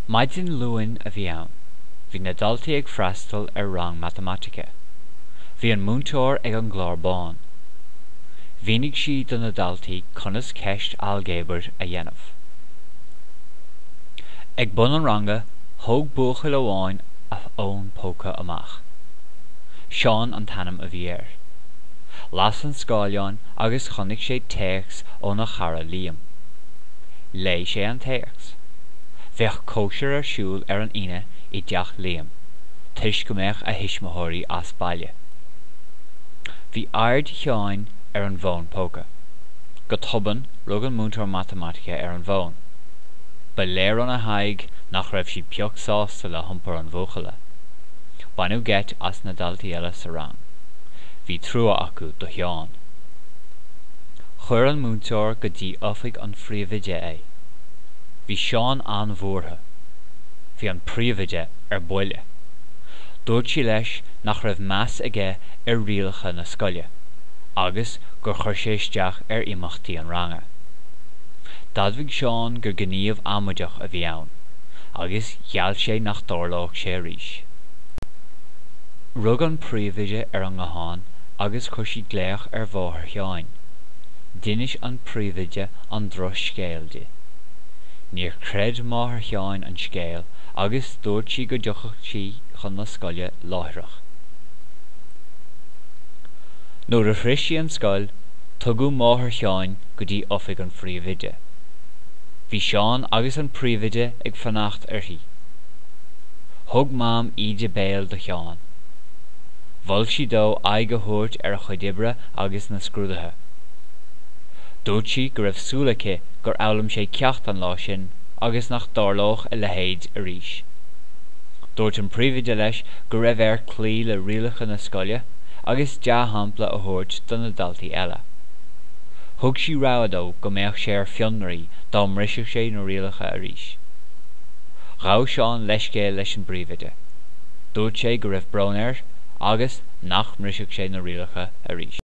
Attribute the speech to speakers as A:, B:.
A: Maidin Luain a bhí ann. Bhí na daltaí ag freastal ar rang matamaitice. Bhí an múinteoir ag an gclár bán. Mhínigh sí do na daltaí conas ceist ailgéabair a dhéanamh. Ag bun an ranga, thóg buachaill amháin a fhón póca amach. Seán an t-ainm a bhí air. Las an scáileán agus chonaic sé téacs óna chara Liam. Léigh sé an téacs. Bheadh cóisir ar siúl ar an Aoine i dteach Liam, toisc go mbeadh a thuismitheoirí as baile. Bhí aird Sheáin ar an bhfón póca. Go tobann, rug an múinteoir matamaitice ar an bhfón. Ba léir óna haghaidh nach raibh sí pioc sásta le hiompar an bhuachalla. Baineadh geit as na daltaí eile sa rang. Bhí trua acu do Sheán. Chuir an múinteoir go dtí oifig an phríomhoide é. Bhí Seán an-bhuartha. Bhí an príomhoide ar buile. Dúirt sí leis nach raibh meas aige ar rialacha na scoile agus gur chuir sé isteach ar imeachtaí an ranga. D'admhaigh Seán gur gníomh amaideach a bhí ann agus gheall sé nach dtarlódh sé arís. Rug an príomhoide ar an nguthán agus chuir sí glaoch ar mháthair Sheáin. D'inis an príomhoide an drochscéal di. Níor chreid máthair Sheáin an scéal agus dúirt sí go dtiocfadh sí chun na scoile láithreach. Nuair a shroich sí an scoil, tugadh máthair Sheáin go dtí oifig an phríomhoide. Bhí Seán agus an príomhoide ag fanacht uirthi. Thug Mam íde béil do Sheán. Mhol sí dó aghaidh a thabhairt ar a chuid oibre agus na scrúduithe. Dúirt sí go raibh súil aici gur fhoghlaim sé ceacht an lá sin agus nach dtarlódh a leithéid arís. Dúirt an príomhoide leis go raibh air cloí le rialacha na scoile agus dea-shampla a thabhairt do na daltaí eile. Thug sí rabhadh dó go mbeadh sé ar fionraí dá mbrisfeadh sé na rialacha arís. Ghabh Seán leithscéal leis an bpríomhoide. Dúirt sé go raibh brón air agus nach mbrisfeadh sé na rialacha arís.